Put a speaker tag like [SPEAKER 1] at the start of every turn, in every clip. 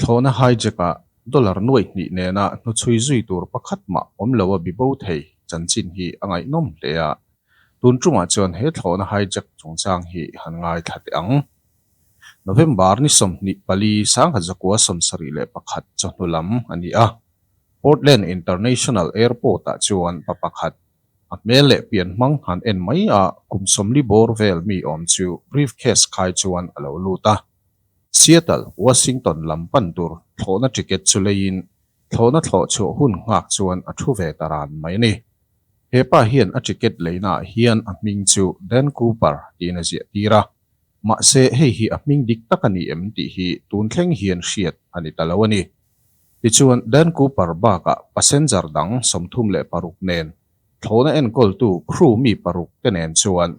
[SPEAKER 1] Thlawhna hijack-ah dollar nuaih hnih nena hnuchhui zui tur pakhat mah awm lo a bi bo thei chanchin hi a ngaihnawm hle a. Tun chungah chuan he thlawhna hijack chungchang hi han ngaithla teh ang. November ni sawmhnih pali sangha zakua sawmsarih leh pakhat chawhnu lam a ni a, Portland International Airport-ah chuan pa pakhat a hmel leh pian hmang han en mai a, kum sawmli bawr vel mi awm chu briefcase khai chuan a lo lut a. Seattle, Washington lam pan tur thlawhna ticket chu leiin thlawhna thlawh chhuah hun nghak chuan a thu ve ta ran mai a ni. He pa hian a ticket leinaah hian a hming chu Dan Cooper tiin a ziahtir a, mahse hei hi a hming dik tak a ni em tih hi tun thleng hian hriat a ni ta lo a ni. Tichuan, Dan Cooper bakah passenger dang sawmthum leh paruk nen thlawhna enkawltu crew mi paruk te nen chuan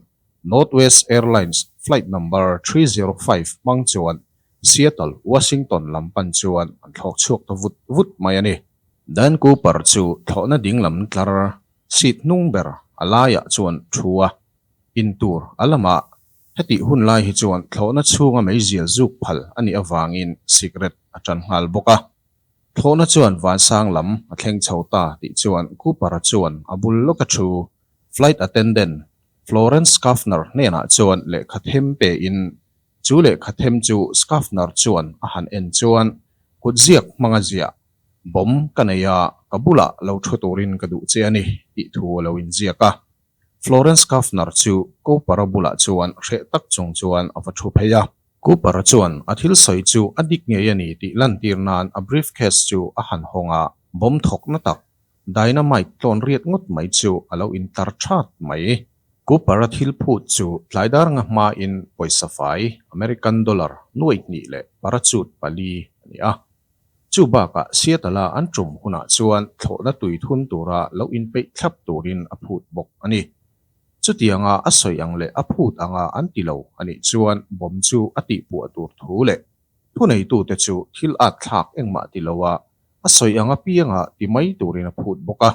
[SPEAKER 1] Northwest Airlines flight number three zero five hmang chuan Seattle, Washington lam pan chuan an thlawk chhuak ta vut vut mai a ni. Dan Cooper chu thlawhna dinglam tlar seat hnung ber a laiah chuan thu a, in tur a lama hetih hun lai hi chuan thlawhna chhunga mei zial zuk phal a nih avangin cigarette a tan nghal bawk a. Thlawhna chuan vansang lam a thleng chho ta tih chuan Cooper-a chuan a bul lawk a thu, flight attendant Florence Schaffner hnenah chuan lehkha them pe in chu lehkha them chu Schaffner chuan a han en chuan kut ziak hmanga ziah bawm ka nei a, ka bulah lo thu turin ka duh che a ni tih thu a lo in ziak a. Florence Schaffner chu Cooper-a bulah chuan hreh tak chung chuan a va thu phei a. Cooper-a chuan a thil sawi chu a dik ngei a ni tih lantir nan a briefcase chu a han hawng a, bawm thawkna tak Dynamite tlawn riat ngawt mai chu a lo in tar ṭhat mai. Cooper-a thil phut chu tlai darnga hmain pawisa fai American dollar nuaihnih leh parachute pali a ni a. Chu bakah Seattle-a an ṭum hunah chuan thlawhna tui thun tura lo in peih thlap turin a phut bawk a ni. Chutianga a sawi ang leh a phut anga an ti lo a nih chuan bomb chu a tihpuah tur thu leh Thuneitute chu thil at thlak engmah ti lo a, a sawi ang apianga ti mai turin a phut bawk a.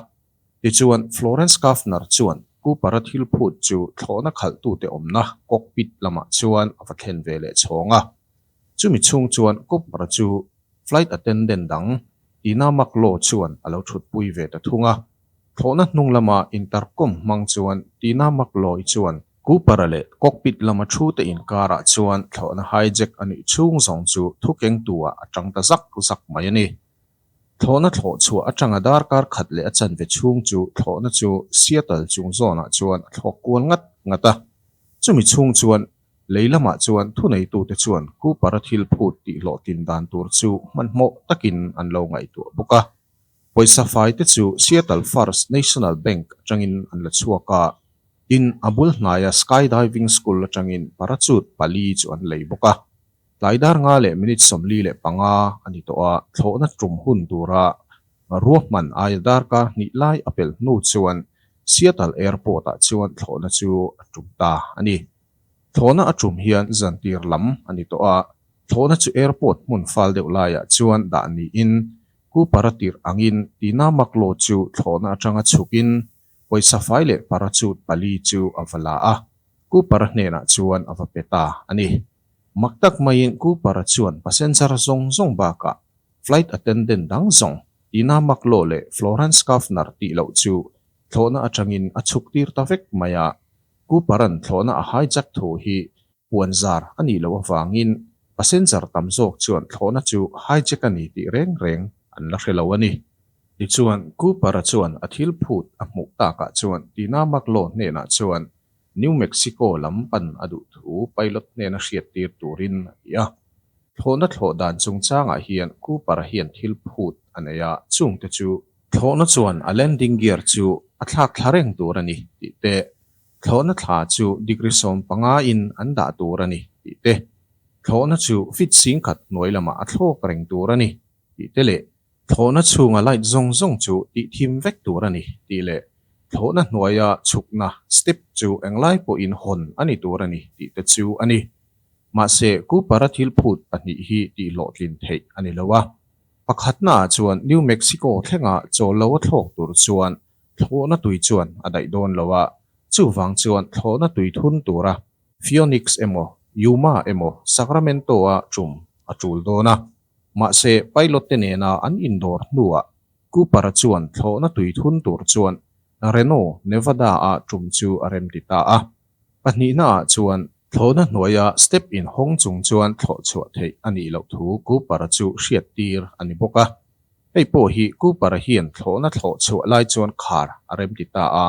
[SPEAKER 1] Tichuan, Florence Kaffner chuan Cooper-a thil phut chu thlawhna khalhtute awmna cockpit lamah chuan a va thlen ve leh chhawng a. Chumi chhung chuan Cooper-a chu flight attendant dang Tina McLaw chuan a lo thutpui ve ta thung a. Thlawhna hnung lama intercom hmang chuan Tina McLaw-i chuan Cooper-a leh cockpit lama thu te inkarah chuan thlawhna hijack a nih chhung zawng chu thukengtuah a ṭang ta zak zak mai a ni. Thlawhna thlawh chhuah aṭanga darkar khat leh a chanve chhung chu thlawhna chu Seattle chung zawnah chuan a thlawk kual ngat ngat a. Chumi chhung chuan lei lamah chuan thuneitute chuan Cooper-a thil phut tihhlawh tindan tur chu hmanhmawh takin an lo ngaihtuah bawk a. Pawisa fai te chu Seattle First National Bank atangin an la chhuak a, tin a bul hnaia Sky Diving School atangin parachute pali chu an lei bawk a. Tlai dar nga leh minute sawmli leh panga a ni tawh a, thlawhna tum hun tura ruah hman aia dar ka hnih lai a pel hnu chuan Seattle Airport-ah chuan thlawhna chu a tum ta a ni. Thlawhna a tum hian zantir lam a ni tawh a, thlawhna chu airport hmun fal deuh laiah chuan dah niin Ku Para tirh angin Tina Mak Law chu thlawhna atanga chhukin pawisa fai leh parachute pali chu a va la a, Ku Para hnenah chuan a va pe ta a ni. Mak tak maiin Ku Para chuan passenger zawng zawng bakah flight attendant dang zawng Tina Mak Law leh Florence Kaufner tih loh chu thlawhna atangin a chhuktir ta vek mai a, Kuparan thlawhna a hijack thu hi puan zar a nih loh avangin passenger tam zawk chuan thlawhna chu hijack a ni tih reng reng an la hre lo a ni. Tichuan, Kupara chuan a thil phut a hmuh takah chuan Tina Maglo hnenah chuan New Mexico lam pan a duh thu pilot hnen a hriat tir turin a ti a. Thlawhna thlawh dan chungchangah hian Kupara hian thil phut a nei a, chungte chu Thlawhna chuan a landing gear chu a thlak thla reng tur a ni tih te, thlawhna thla chu degree sawm panga in an dah tur a ni tih te, thlawhna chu fit sing khat hnuai lamah a thlawk reng tur a ni tih te leh thlawhna chhunga light zawng zawng chu tihthim vek tur a ni tih leh thlawhna hnuaia chhukna, step, chu englai pawhin hawn a ni tur a ni tih te chu a ni. Mahse, Cooper-a thil phut pahnih hi tihhlawhtlin theih a ni lo a. Pakhatnaah chuan New Mexico thlengah chawllo a thlawk tur chuan thlawhna tui chuan a daih dawn lo a, chuvang chuan thlawhna tui thun tura Phoenix emaw Yuma emaw Sacramento-a ṭum a ṭul dawn a. Mahse, pilot-te nena an indawr hnuah Cooper-a chuan thlawhna tui thun tur chuan Reno, Nevada-a ṭum chu a remti ta a. Pahnihna ah chuan thlawhna hnuaia step in hawng chung chuan thlawh chhuah theih a nih loh thu Cooper-a chu hriat tir a ni bawk a. Hei pawh hi Cooper-a hian thlawhna thlawh chhuah lai chuan khar a rem ti ta a,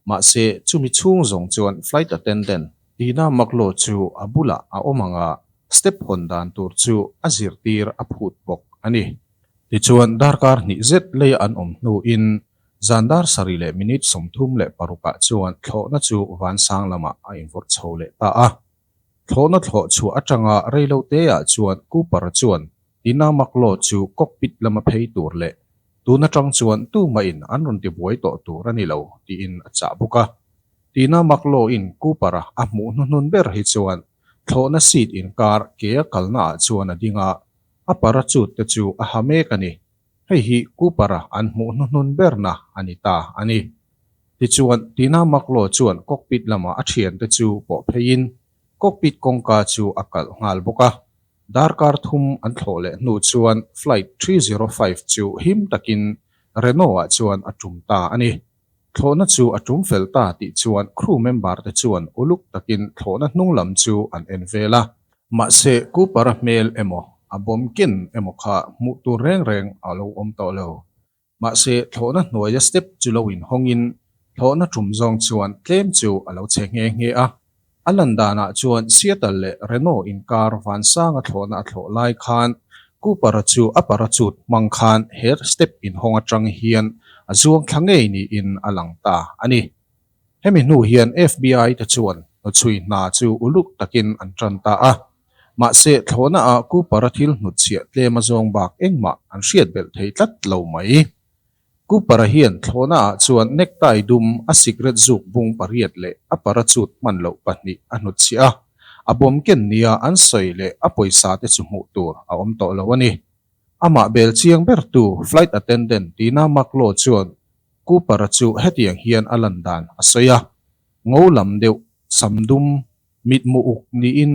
[SPEAKER 1] mahse chumi chhung zawng chuan flight attendant, Tina Maklo chu a bulah a awm ang a, step hawn dan tur chu a zir tir a phut bawk a ni. Tichuan darkar hnih zet lei an awm hnuin Zan dar sarih leh minute sawmthum leh parukah chuan thlawhna chu vansang lamah a invawrh chho leh ta a. Thlawhna thlawh chhuah atanga reilo teah chuan Cooper chuan ina Maklaw chu cockpit lama phei tur leh tun atang chuan tu mahin an rawn tibuai tawh tur a ni lo tiin a chah bawk a. Tina Maklaw-in Cooper-a a hmuh hnuhnun ber hi chuan thlawhna seat inkar kea kalnaah chuan a ding a, a parachute te chu a ha mek a ni Hei hi Cooper-a an hmuh hnuhnun berna a ni ta a ni. Tichuan, Tina Maklo chuan cockpit lama a thiante chu pawh pheiin cockpit kawngka chu a kalh nghal bawk a. Darkar thum an thlawh leh hnu chuan Flight three zero five chu him takin Renault-ah chuan a tum ta a ni. Thlawhna chu a tum fel ta tih chuan crew member te chuan uluk takin thlawhna hnung lam chu an en vel a. Mahse, Cooper a hmel emaw, a bawm ken emaw kha hmuh tur reng reng a lo awm tawh lo. Mahse, thlawhna hnuaia step chu lo inhawngin thlawhna tum zawng chuan tlem chu a lo che nghe nghe a. A lan danah chuan Seattle leh Reno inkar vansanga thlawhna a thlawh lai khan Cooper-a chu a parachute hmang khan he step inhawng atang hian a zuang thla ngei niin a lang ta a ni. Hemi hnu hian FBI-te chuan hnuchhui hna chu uluk takin an tan ta a. Mahse, thlawhnaah Cooper-a thil hnutchhiah tlema zawng bak engmah an hriat belh thei tlat lo mai. Cooper-a hian thlawhnaah chuan necktie dum, a cigarette zuk bung pariat leh a parachute hman loh pahnih a hnut chhiah a. A bawmken nia an sawi leh a pawisa te chu hmuh tur a awm tawh lo a ni. Amah bel chiang bertu, flight attendant Tina Marklow chuan Cooper-a chu hetiang hian a lan dan a sawi a, Ngo lam deuh, sam dum, Mitmuh uk niin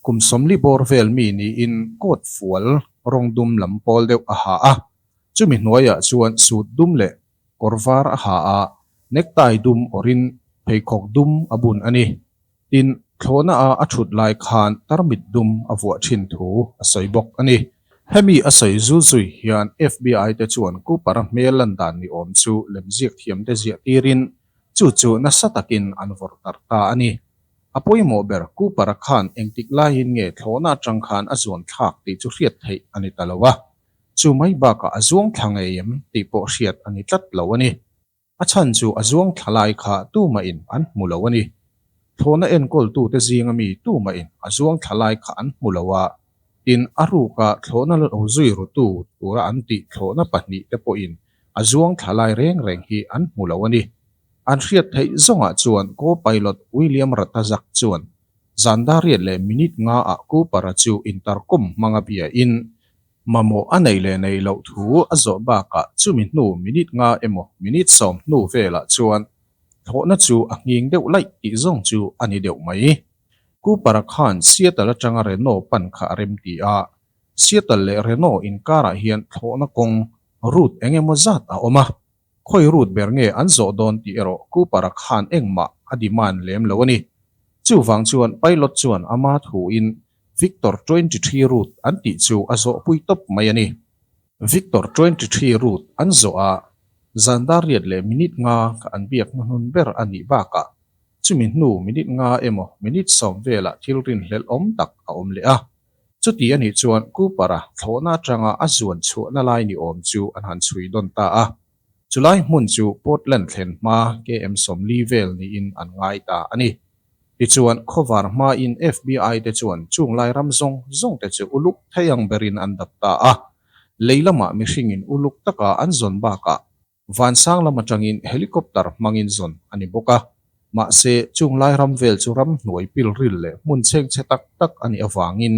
[SPEAKER 1] kum sawmli bawr vel mi niin coat fual rawng dum lam pawl deuh a ha a, chumi hnuaiah chuan suit dum leh kawr var a ha a, necktie dum awrhin pheikhawk dum a bun a ni. Tin, thlawhna a a thut lai khan tarmit dum a vuah thin thu a sawi bawk a ni. Hemi a sawi zui zui hian FBI-te chuan Cooper hmel lan dan ni awm chu lemziak thiamte ziah tirin chu chu nasa takin an vawrh tarh ta a ni. A pawimawh ber Cooper-a khan engtik laiin nge thlawhna atang khan a zuan thlak tih chu hriat theih a ni ta lo a, chu mai bakah a zuang thla ngei em tih pawh hriat a ni tlat lo a ni. A chhan chu a zuang thla lai kha tumahin an hmu lo a ni. Thlawhna enkawltute zinga mi tumahin a zuang thla lai kha an hmu lo a, tin a ruka thlawhna lo zui ru tu tura an tih thlawhna pahnih te pawhin a zuang thla lai reng reng hi an hmu lo a ni. An hriat theih zawngah chuan co-pilot William Ratazak chuan zandariat leh minute nga ah Cooper-a chu intarkawm hmang a bia in mamawh a nei leh nei loh thu a zawh bakah chumi hnu minute nga emaw minute sawm hnu velah chuan thlawhna chu a nghing deuh laih tih zawng chu a ni deuh mai. Cooper-a khan Seattle atanga Renault pan kha a rem ti a, Seattle leh Reno inkarah hian thlawhna kawng route eng emaw zat a awm a, khawi route ber nge an zawh dawn tih erawh Cooper-a khan engmah a demand lem lo a ni. Chuvang chuan pilot chuan a ma thuin Victor twenty three route an tih chu a zawhpui tawp mai a ni. Victor twenty three route an zawh a, zan dar riat leh minute nga kha an biak hnuhnun ber a nih bakah chumi hnu minute nga emaw minute sawm velah thilrin hlelhawm tak a awm leh a. Chuti a nih chuan Cooper-a thlawhna atanga a zuan chhuahna lai ni awm chu an han chhui dawn ta a. Chulai hmun chu Portland thlen hma KM sawmli vel niin an ngai ta a ni. Tichuan, khawvar hmain FBI te chuan chung lairam zawng zawng te chu uluk thei ang berin an dap ta a. Lei lamah mihringin uluk taka an zawn bakah Vansang lam atangin helicopter hmangin zawn a ni bawk a, mahse chung lai ram vel chu ram hnuai pilril leh hmun chheng chhe tak tak a nih avangin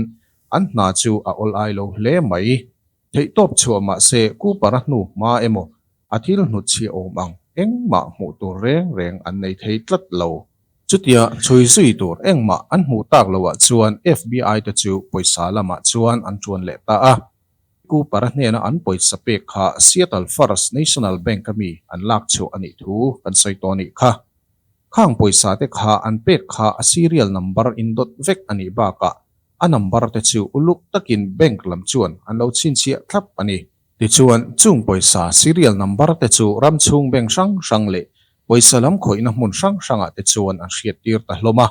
[SPEAKER 1] an hna chu a awl ai lo hle mai. Theihtawp chhuah mahse Cooper a hnu hma emaw a thil hnut chhia awm ang engmah hmuh tur reng reng an nei thei tlat lo. Chutia chhui zui tur engmah an hmuh tak loah chuan FBI te chu pawisa lamah chuan an ṭuan leh ta a, Cooper hnena an pawisa pek kha Seattle First National Bank-a mi an lak chhuah a nih thu kan sawi tawh a nih kha. Khang pawisa-te kha an pek kha a serial number in dawt vek a nih bakah a number te chu uluk takin bank lam chuan an lo chhinchhiah thlap a ni. Tichuan, chung pawisa serial number te chu ram chhung bank hrang hrang leh pawisa lam khawihna hmun hrang hrangah te chuan an hriat tir ta hlawm a.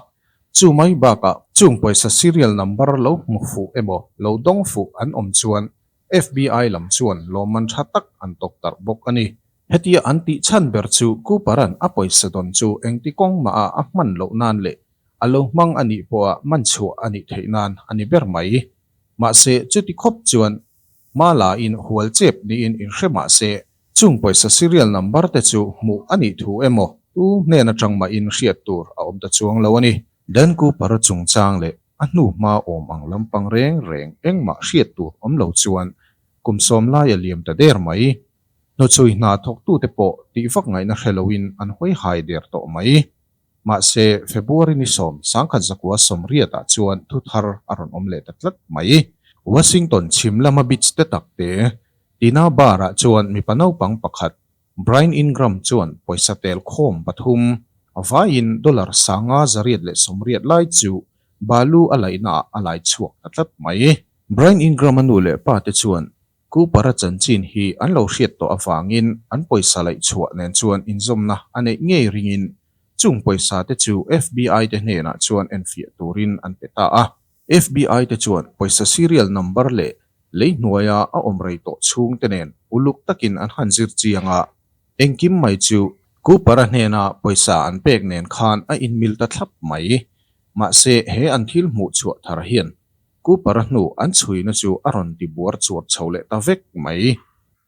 [SPEAKER 1] Chumai bakah chung pawisa serial number lo hmu fuh emaw lo dawng fuh an awm chuan FBI lam chuan lawmman tha tak an tawk tarh bawk a ni. Hetia an tih chhan ber chu Cooper-a'n a pawisa dawn chu engti kawng mahah a hman loh nan leh a lo hmang a nih pawha man chhuah a nih theih nan a ni ber mai. Mahse, chuti khawp chuan Mala-in hual chep niin in hre mah se Chung pawisa serial number te chu hmuh a nih thu em aw? Tu hnen atang mahin hriat tur a awm ta chuang lo a ni. Dan Cooper chungchang leh a hnu hma awm ang lampang reng reng engmah hriat tur awm lo chuan kum sawm lai a liam ta der mai. Hnuchhui hna thawktute pawh tih vak ngaihna hre loin an hawi hai der tawh mai. Mahse, February ni sawm sangkhat zakua sawm riatah chuan thu thar a rawn awm leh ta tlat mai. Washington chhim lama beach-te takte Tina Bar-ah chuan mipa naupang pakhat, Brian Ingram chuan pawisa tel khawm pathum a vaiin dollar sanga zariat leh sawm riat lai chu balu a laihnaah a laichhuak ta tlat mai. Brian Ingram-a nu leh pate chuan Cooper-a chanchin hi an lo hriat tawh avangin an pawisa laih chhuah nen chuan inzawmna a neih ngei ringin chung pawisa te chu FBI te hnenah chuan enfiah turin an pe ta a. FBI te chuan pawisa serial number leh lei hnuaia a awm rei tawh chhung te nen uluk takin an han zir chiang a, engkim mai chu Cooper-a hnena pawisa an pek nen khan a inmil ta thlap mai. Mahse he an thil hmuh chhuah thar hian Cooper-a hnu an chhuina chu a rawn ti buar chuar chho leh ta vek mai.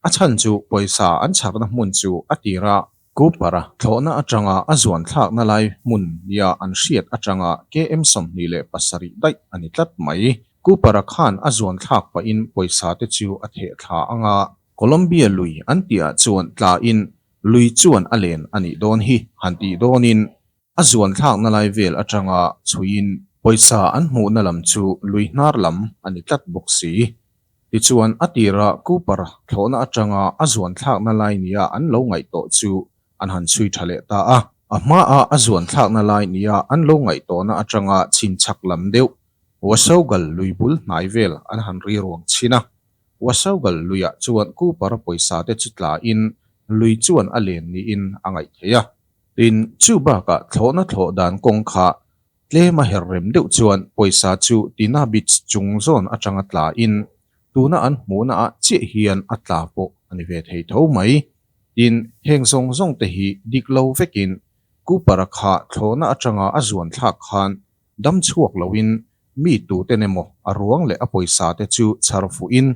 [SPEAKER 1] A chhan chu pawisa an chhakna hmun chu a tir a. Cooper-a thlawhna atanga a zuan thlakna lai hmun nia an hriat atanga KM sawmhnih leh pasarih daih a ni tlat mai. Cooper-a khan a zuan thlak pahin pawisa te chu a theh thla anga. Colombia lui an tihah chuan tla in lui chuan a len a nih dawn hi han tih dawnin A zuan thlakna lai vel atanga chhuiin pawisa an hmuhna lam chu lui hnar lam a ni tlat bawk si. Tichuan, a tira Cooper thlawhna atanga a zuan thlakna lai nia an lo ngaihtawh chu an han chhui tha leh ta a. A hmaa a zuan thlakna lai nia an lo ngaihtawhna atanga chhin chak lam deuh Wasaugal lui bul hnai vel an han riruang chhin a. Wasaugal luiah chuan Cooper pawisa te chu tla in lui chuan a len niin a ngaih theih a. Tin, chu bakah thlawhna thlawh dan kawng kha tlem a herh rem deuh chuan pawisa chu Tina Beach chung zawn atanga tla in tuna an hmuhna ah chiah hian a tla pawh a ni ve thei tho mai. Tin, heng zawng zawngte hi dik lo vekin Cooper-a kha thlawhna atanga a zuan thlak khan Dam chhuak loin mi tuten emaw a ruang leh a pawisa-te chu chhar fuhin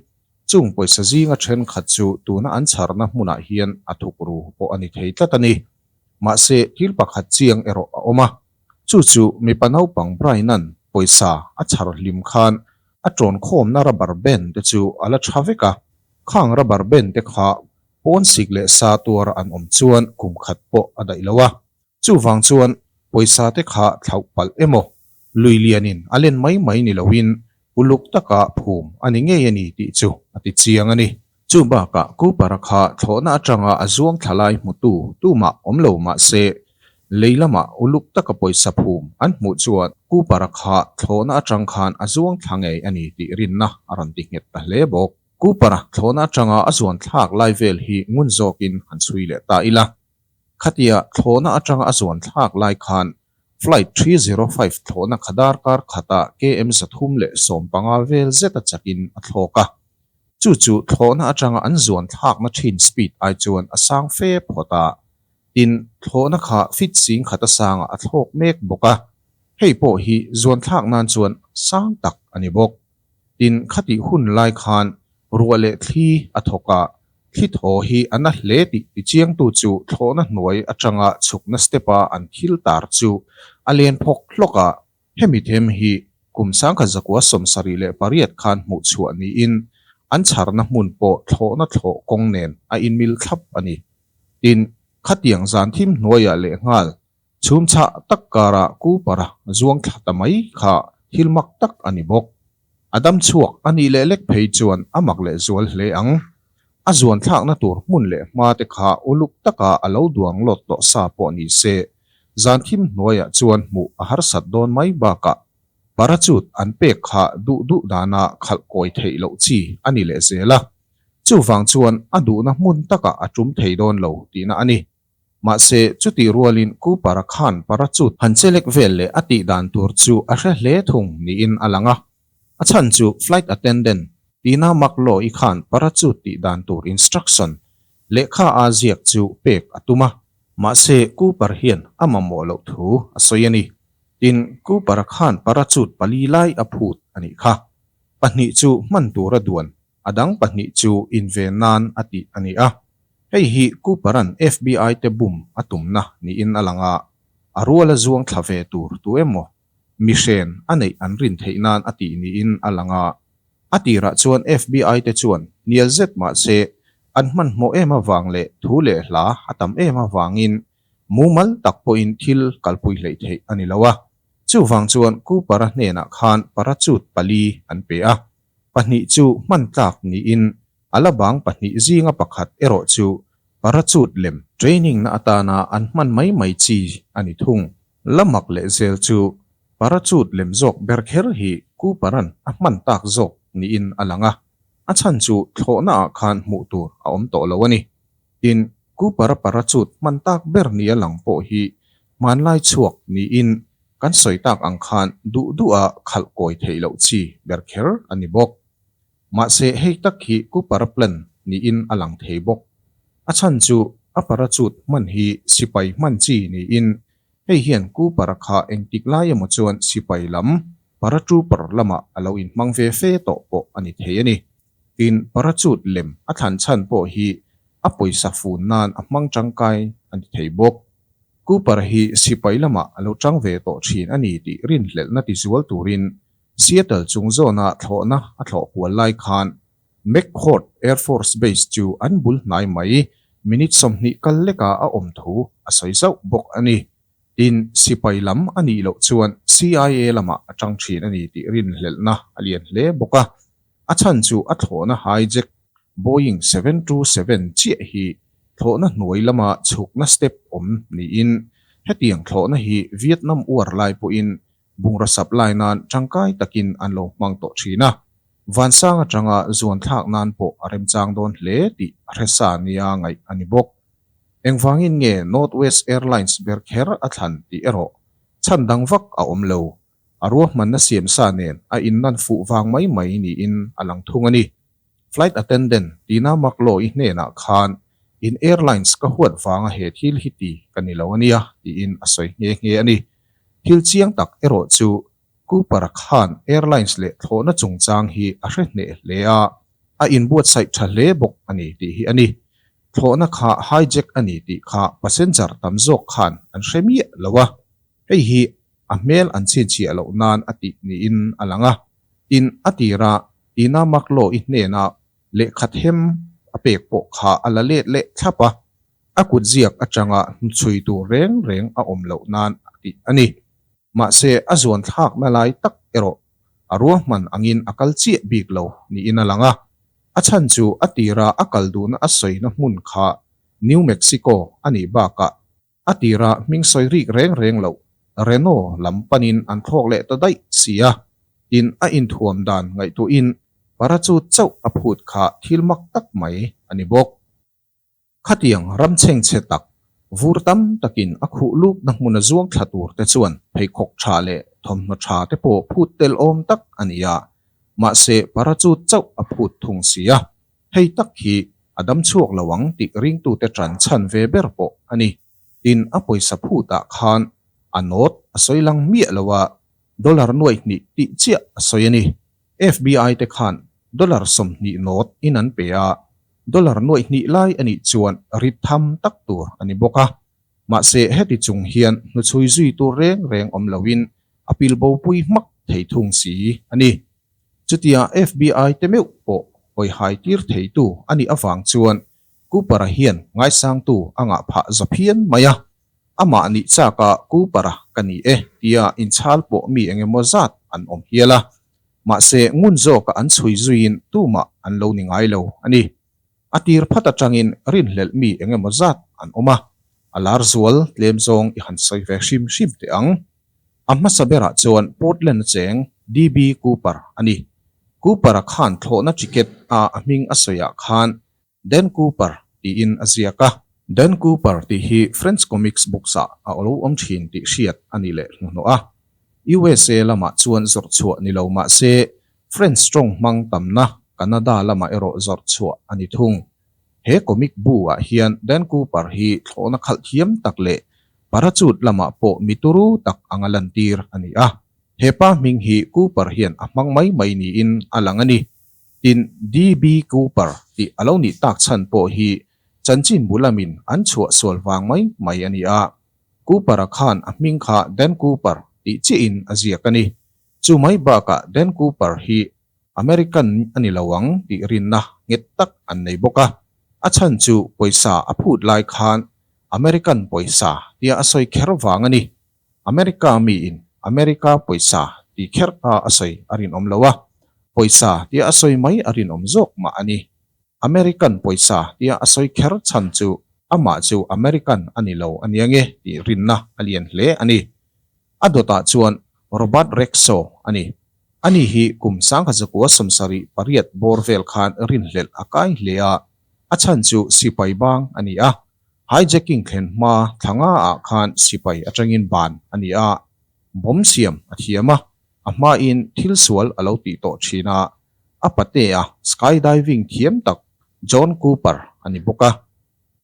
[SPEAKER 1] chung pawisa zinga thenkhat chu tuna an chharna hmunah hian a thuk ru pawh a ni thei tlat a ni. Mahse, thil pakhat chiang erawh a awm a, chu chu mipa naupang Brian-a'n pawisa a chhar hlim khan a ṭawnkhawmna rubber band-te chu a la ṭha vek a. Khang rubber band-te kha pawn sik leh sa tuara an awm chuan kum khat pawh a daih lo a, Chuvang chuan pawisa te kha thlauh palh emaw lui lianin a len mai mai ni loin uluk taka phum a ni ngei a ni tih chu a ti chiang a ni. Chu bakah Cooper-a kha thlawhna atanga a zuang thla lai hmutu tumah awm lo mah se, lei lamah uluk taka pawisa phum an hmuh chuan Cooper-a kha thlawhna atang khan a zuang thla ngei a ni tih rinna a rawn ti nghet ta hle bawk. Cooper-a thlawhna atanga a zuan thlak lai vel hi ngun zawkin han chhui leh ta ila. Khatiah thlawhna atanga a zuan thlak lai khan Flight three zero five thlawhna kha darkar khata KM zathum leh sawm panga vel zeta chakin a thlawk a. Chu chu thlawhna atanga an zuan thlakna thin speed ai chuan a sang fe phawt a. Tin, thlawhna kha feet sing khata sanga a thlawk mek bawk a. Hei pawh hi zuan thlak nan chuan sang tak a ni bawk. Tin, khatih hun lai khan ruah leh thli a thawkah thli thaw hi a na hle tih tichiangtu chu thlawhna hnuai atanga chhukna step-a an thil tar chu a len phawk hlawk a, hemi them hi kum sangkhat zakua sawm sarih leh pariat khan hmuh chhuah niin an chharna hmun pawh thlawhna thlawh kawng nen a inmil thlap a ni. Tin, khatiang zan thim hnuaiah lehnghal Chhumchhah tak karah Cooper-a zuang thla ta mai kha thil mak tak a ni bawk. A dam chhuak a nih leh lek phei chuan a mak leh zual hle ang. A zuan thlakna tur hmun leh hma te kha uluk taka a lo duang lawt tawh sa pawh ni se, zan thim hnuaiah chuan hmuh a harsat dawn mai bakah parachute an pek kha duh duh dana khalh kawi theih loh chi a ni leh zel a. Chuvang chuan a duhna hmun taka a tum thei dawn lo tihna a ni. Mahse, chutih rualin Ku Para khan Para chu han che lek vel leh a tih dan tur chu a hre hle thung niin a lang a. A chhan chu Flight Attendant, Tina Mak Law i khan Para chu tih dan tur instruction lehkha a ziak chu pek a tum a. Mahse, Ku Para hian a mamawh loh thu a sawi a ni. Tin, Ku Para khan Para chu pali lai a phut a nih kha. Pahnih chu hman tura duan a dang pahnih chu in ve nan a tih a ni a. Hei hi Cooper-a'n FBI-te bum a tumna niin a lang a, a rual a zuang thla ve tur tu emaw mihren a neih an rin theih nan a tih niin a lang a. A tirah chuan FBI-te chuan hnial zet mah se an hmanhmawh em avang leh thu leh hla a tam em avangin mumal tak pawhin thil kalpui hleih theih a ni lo a. Chuvang chuan Cooper-a hnenah khan parachute pali an pe a. Pahnih chu hman tlak niin a la bang pahnih zinga pakhat erawh chu parachute lem training na atana an hman mai mai chi a ni thung. La mak leh zel chu parachute lem zawk ber kher hi Cooper-an a hman tak zawk niin a lang a, a chhan chu thlawhnaah khan hmuh tur a awm tawh lo a ni. Tin, Ku Para Para chut hman tak ber nia lang pawh hi hmanlai chhuak niin kan sawi tak ang khan duh duh a khalh kawi theih loh chi ber kher a ni bawk. Mahse, hei tak hi Ku Para Plan niin a lang thei bawk. A chhan chu a para chut hman hi sipai hman chi niin Hei hian Ku Para kha engtik lai emaw chuan sipai lam Paratrooper lamah a lo inhmang ve fe tawh pawh a ni thei a ni. Tin, Parachute lem a thlan chhan pawh hi a pawisa fun nan a hmang tangkai a ni thei bawk. Ku Para hi sipai lamah a lo chang ve tawh thin a ni tih rinhlelhna tizual turin Seattle chung zawnah thlawhna a thlawh kual lai khan McChord Air Force Base chu an bul hnai mai minute sawmhnih kal leka a awm thu a sawi zauh bawk a ni. Tin, sipai lam a nih loh chuan CIA lamah a ṭang ṭhin a ni tih rinhlelhna a lian hle bawk a. A chhan chu a thlawhna hijack Boeing seven two seven chiah hi thlawhna hnuai lama chhukna step awm niin hetiang thlawhna hi Vietnam uar lai pawhin Bungraw sap lai nan tangkai takin an lo hmang tawh thin a, Vansang atanga zuan thlak nan pawh a remchang dawn hle tih Hresa nia ngaih a ni bawk. Engvangin nge North West Airlines ber kher a thlan tih erawh chhan dang vak a awm lo. A ruahmanna siam sa nen a innan fuh vang mai mai niin a lang thung a ni. Flight attendant Tina Makloy hnenah khan, In airlines ka huat vanga he thil hi ti ka ni lo a nia, tiin a sawi nghe nghe a ni. Thil chiang tak erawh chu Cooper khan airlines leh thlawhna chungchang hi a hre hneh hle a, a inbuatsaih tha hle bawk a ni tih hi a ni. Thlawhna kha hijack a ni tih kha passenger tam zawk khan an hre miah lo a, hei hi a hmel an chhinchhiah loh nan a tih niin a lang a, tin a tira Tina Mark-Law-i hnena lehkhathem a pek pawh kha a la let leh thlap a. A kut ziak atanga hnuchhui tur reng reng a awm loh nan a tih a ni. Mahse, a zuan thlakna lai tak erawh a ruahman angin a kal chiah bik lo niin a lang a. A chhan chu a tira a kal duhna a sawina hmun kha New Mexico a nih bakah a tira hming sawi rik reng reng loh Reno lam panin an thlawk leh ta daih si a, tin a inthuam dan ngaihtuahin parachute chauh a phut kha thil mak tak mai a ni bawk. Khatiang ram chheng che tak, vur tam takin a khuh lupna hmuna zuang thla tur te chuan pheikhawk tha leh thawmhnaw tha te pawh phut tel awm tak a ni a, mahse parachute chauh a phut thung si a, hei tak hi a dam chhuak lo ang tih ringtute ṭan chhan ve ber pawh a ni. Tin a pawisa phutah khan a note a sawi lang miah lo a, dollar nuaihnih tih chiah a sawi a ni. FBI te khan dollar sawmhnih note in an pe a, dollar nuaih hnih lai a nih chuan rit tham tak tur a ni bawk a. Mahse heti chung hian hnuchhui zui tur reng reng awm lo in a pil bo pui hmak thei thung si a ni. Chutia FBI te meuh pawh awihai tir thei tu a nih avang chuan Cooper-a hian ngaisangtu a ngah phah zawp hian mai a. Amah nih chaka Kupara ka ni e tia inchhal pawh mi eng emaw zat an awm hial a, mahse ngun zawka an chhui zuiin tumah an lo ni ngai lo a ni. A tir phat atangin rinhlelh mi eng emaw zat an awm a, a lar zual tlem zawng i han sawi ve hrim hrim teh ang. A hmasa berah chuan Portland acheng DB Cooper a ni. Cooper-a khan thlawhna ticket a a hming a sawiah khan Dan Cooper tiin a ziak a. Dan Cooper tih hi French comics books ah a lo awm thin tih hriat a ni leh hnuhnawh a. Usa lamah chuan zawrh chhuah ni lo mah se, French tawng hmang tamna Canada lamah erawh zawrh chhuah a ni thung. He comic bu ah hian Dan Cooper hi thlawhna khalh thiam tak leh parachute lamah pawh mi turu tak anga lantir a ni a. Hepa hming hi Cooper hian a hmang mai mai niin a lang a ni. Tin, DB Cooper tih a lo nih tak chhan pawh hi chanchin bu lamin an chhuah sual vang mai mai a ni a. Cooper-a khan a hming kha Dan Cooper tih chiahin a ziak a ni. Chumai bakah Dan Cooper hi American a ni lo ang tih rinna nghet tak an nei bawk a. A chhan chu pawisa a phut lai khan American pawisa tia a sawi kher vang a ni. America miin America pawisa tih kher kha a sawi a rinawm lo a, pawisa tia a sawi mai a rinawm zawk mah a ni. American pawisa tia a sawi kher chhan chu amah chu American a ni lo ania nge tih rinna a lian hle a ni. A dawtah chuan Robert Rexo a ni. Ani hi kum Sangkhazakuwa sawmsari pariat bawr vel khan rinhlelh a kai hle a, a chhan chu sipai bang a ni a, Hijacking thlen hma thlanga ah khan sipai atangin ban a ni a, bomb siam a thiam a, a hmain thil sual a lo tih tawh thin a, a pate a skydiving thiam tak John Cooper a ni bawk a.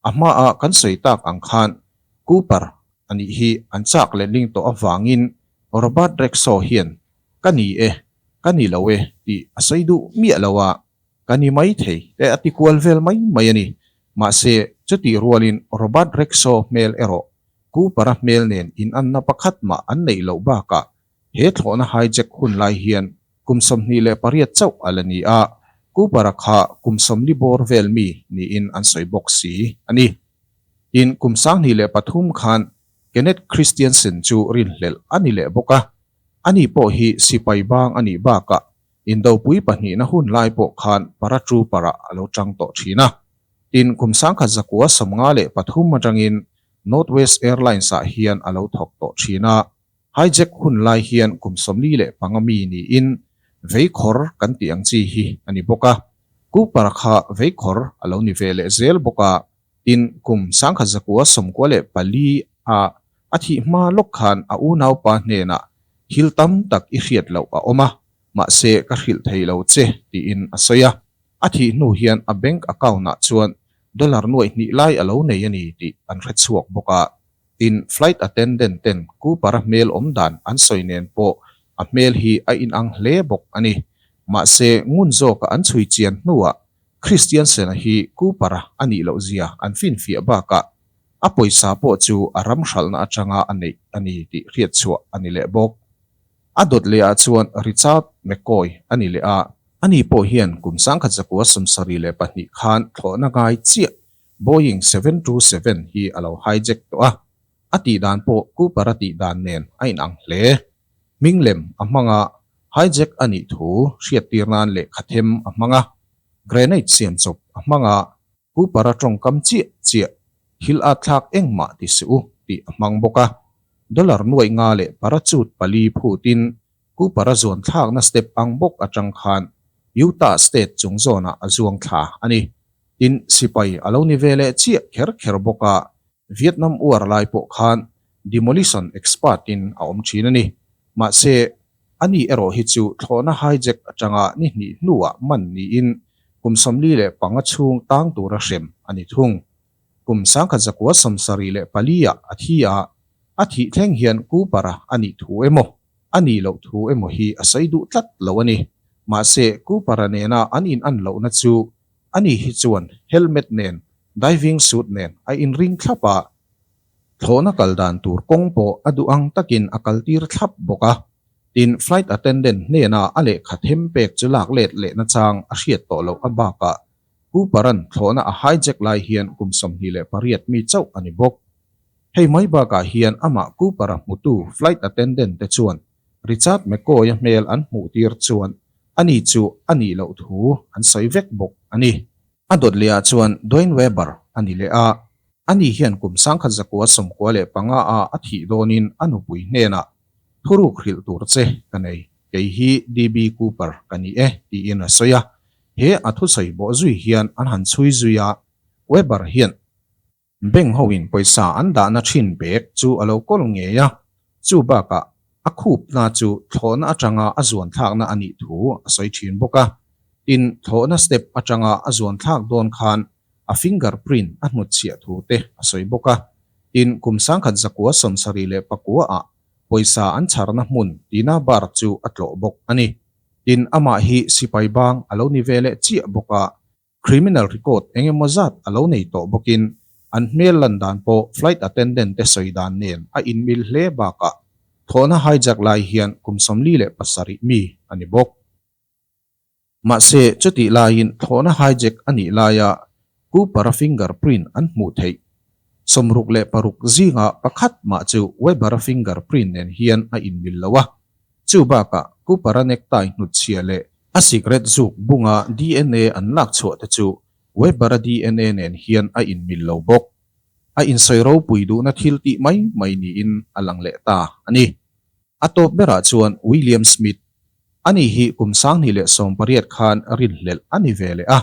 [SPEAKER 1] A hma ah kan sawi tak ang khan Cooper a nih hi an chak lehning tawh avangin Robert Rexo hian ka ni e, ka ni lo e tih a sawi duh miah lo a, Ka ni maithei te a tikual vel mai mai a ni. Mahse, chutih rualin Robert Rexall hmel erawh Cooper-a hmel nen inanna pakhat mah an neih loh bakah he thlawhna hijack hun lai hian kum sawmhnih leh pariat chauh a la ni a, Cooper-a kha kum sawmli bawr vel mi niin an sawi bawk si a ni. Tin, kum sanghnih leh pathum khan Kenneth Christiansen chu rinhlelh a ni leh bawk a, ani pawh hi sipai bang a nih bakah Indopui pahnihna hun lai pawh khan para ṭu parah a lo ṭang tawh ṭhin a. Tin, kum sangkhat zakua sawmnga leh pathum aṭangin Northwest Airlines-ah hian a lo thawk tawh ṭhin a. Hijack hun lai hian kum sawmli leh panga mi niin veikhawr kan tih ang chi hi a ni bawk a. Kupara kha veikhawr a lo ni ve leh zel bawk a. Tin, kum sangkhat zakua sawmkua leh pali a a thih hma lawk khan a unaupa hnenah thil tam tak i hriat loh a awm a, mahse ka hrilh thei lo che, tiin a sawi a. A thih hnu hian a bank account-ah chuan dollar nuaih hnih lai a lo nei a ni tih an hre chhuak bawk a. Tin, flight attendant-ten Cooper-a hmel awm dan an sawi nen pawh a hmel hi a inang hle bawk a ni. Mahse, ngun zawka an chhui chian hnuah Kristian sena hi Cooper-a a nih loh zia an finfiah bakah a pawisa pawh chu a ram hralhna atanga a neih a ni tih hriatchhuah a ni leh bawk. A dawt lehah chuan Richard McCoy a ni leh a, a ni pawh hian kum sangkhat zakua sawmsarih leh pahnih khan thlawhna ngai chiah Boeing seven two seven hi a lo hijack tawh a, a tihdan pawh Cooper-a tihdan nen a inang hle. Hming lem a hmanga hijack a nih thu hriattir nan lehkha them a hmanga grenade siam chawp a hmanga pu para tawngkam chiah chiah thil a thlak engmah ti si u tih a hmang bawk a. Dollar nuaih nga leh parachute pali phut in pu para zuan thlakna step ang bawk a tang khan Utah state chung zawnah a zuang thla a ni. Tin sipai a lo ni veleh chiah kher kher bawk a Vietnam uar lai pawh khan demolition expert in a awm thin a ni. Mahse, a ni erawh hi chu thlawhna hijack atanga ni hnih hnuah man niin kum sawmli leh panga chhung tang tura hrem a ni thung. Kum sangkhat zakua sawmsarih leh palia a thi a, a thih thleng hian kupara a nih thu emaw, a ni loh thu emaw hi a sawi duh tlat lo a ni. Mahse, kupara nena an in an lohna chu A ni hi chuan helmet nen diving suit nen a inring thlap a, thlawhna kal dan tur kawng pawh a duh ang takin a kaltir thlap bawk a, tin flight attendant hnena a lehkha them pek chu lak let leh nachang a hriat tawh loh a bakah Cooper-a'n thlawhna a hijack lai hian kum sawmhnih leh pariat mi chauh a ni bawk. Hei mai bakah hian amah Cooper-a hmutu flight attendant te chuan Richard McCoy-a hmel an hmuh tir chuan a ni chu a nih loh thu an sawi vek bawk a ni. A dawt leh ah chuan Duane Weber a ni leh a, a ni hian kum sangkhat zakua sawmkua leh panga a a thih dawn in a nupui hnenah, Thuruk hrilh tur che ka nei, kei hi DB Cooper ka ni e tiin a sawi a, he a thusawi bawh zui hian an han chhui zui a, Weber hian. Bank hoin pawisa an dahna thin bag chu a lo kawl ngei a, chu bakah a khup hna chu thlawhna atanga a zuan thlakna a nih thu a sawi thin bawk a. Tin, thlawhna step atanga a zuan thlak dawn khan a finger print a hnut chhiah thu te a sawi bawk a. Tin, kum sangkhat zakua sawn sarih leh pakua ah pawisa an chharna hmun tihna bar chu a tlawh bawk a ni. Tin, amah hi sipai bang a lo ni ve leh chiah bawk a. Criminal record eng emaw zat a lo nei tawh bawkin an hmel lan dan pawh flight attendant te sawi dan nen a inmil hle bakah thawhna hijack lai hian kum sawmli leh pasarih mi a ni bawk. Mahse, chutih laiin thawhna hijack a nih laia Cooper-a finger print an hmuh theih. Sawmruk leh paruk zingah pakhat mah chu Weber-a finger print nen hian a inmil lo a, Chu bakah, Pu Para Nektai hnutchhia leh a cigarette zuk bunga dna an lak chhuah te chu Webber-a dna nen hian a inmil lo bawk. A insawi ropui duhna thil tih mai mai niin a lang leh ta a ni. A tawp berah chuan William Smith, a ni hi kum sanghnih leh sawm pariat khan rin hlelh a ni ve leh a,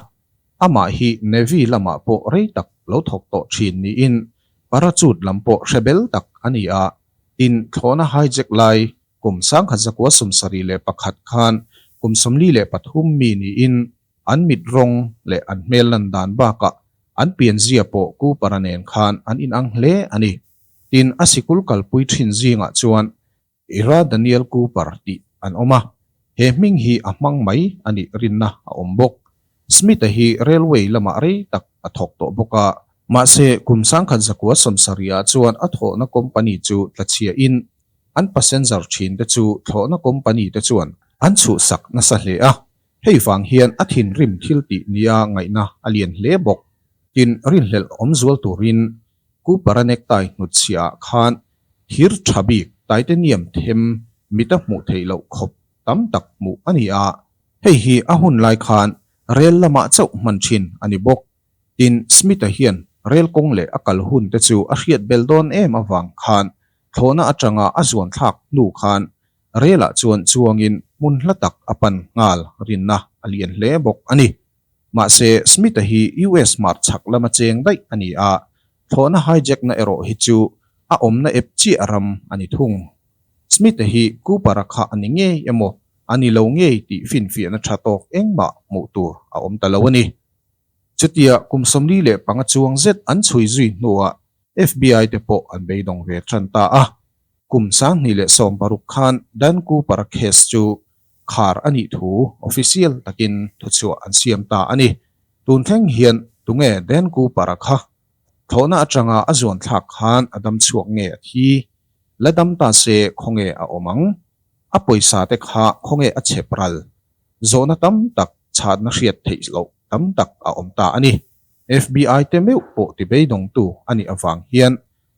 [SPEAKER 1] amah hi Navy lamah pawh rei tak lo thawk tawh thin niin parachute lam pawh hre bel tak a ni a. Tin, thlawhna hijack lai kum sangkhat zakua sum sarih leh pakhat khan kum sawmli leh pathum mi niin an mit rawng leh an hmel lan dan bakah an pianzia pawh Kupara nen khan an inang hle a ni. Tin, a sikul kalpui thin zingah chuan Ira Daniel Kupar tih an awm a, he hming hi a hmang mai a nih rinna a awm bawk. Smith-a hi railway lamah rei tak a thawk tawh bawk a, mahse kum sangkhat zakua sawmsariah chuan a thlawhna company chu thlachiahin an passenger thinte chu thlawhna company te chuan an chhuhsak nasa hle a, hei vang hian a thinrim thil tih nia ngaihna a lian hle bawk. Tin, rinhlelh awmzual turin Cooper a necktie hnutchhiahah khan thir tha bik taite niam them mit a hmuh theih loh khawp tam tak hmuh a ni a, hei hi a hun lai khan rel lamah chauh hman thin a ni bawk. Tin, Smith-a hian rel kawng leh a kal hun te chu a hriat bel dawn em avang khan thlawhna atanga a zuan thlak hnu khan relah chuan chuangin hmun hla tak a pan nghal rinna a lian hle bawk a ni. Mahse, Smith-a hi US hmar chhak lama cheng daih a ni a, thlawhna hijack-na erawh hi chu a awmna ep chiah ram a ni thung. Smith-a hi Cooper-a kha a ni ngei emaw a ni lo ngei tih finfiahna tha tawk engmah hmuh tur a awm ta lo a ni. Chutia kum sawmli leh panga chuang zet an chhui zui hnuah FBI te pawh an beidawng ve ṭan ta a. Kum Sanghnih leh Sawmparuk khan Dan Cooper-a case chu khar a nih thu official takin thuchhuah an siam ta a ni. Tun thleng hian tunge Dan Cooper-a kha thlawhna aṭanga a zuanthlak khan a dam chhuak nge a thi? La dam ta se khawnge a awm ang? A pawisa te kha khawnge a chep ral? Zawhna tam tak chhatna hriat theih loh. tam tak a awm ta a ni. FBI te meuh pawh ti beidawngtu a nih avang hian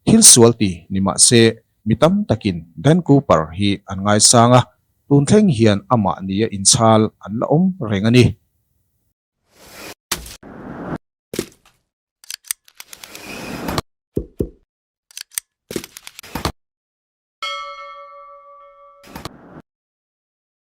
[SPEAKER 1] thil sual ti ni mah se mi tam takin Dan Cooper hi an ngaisang a, tun thleng hian amah nia inchhal an la awm reng a ni.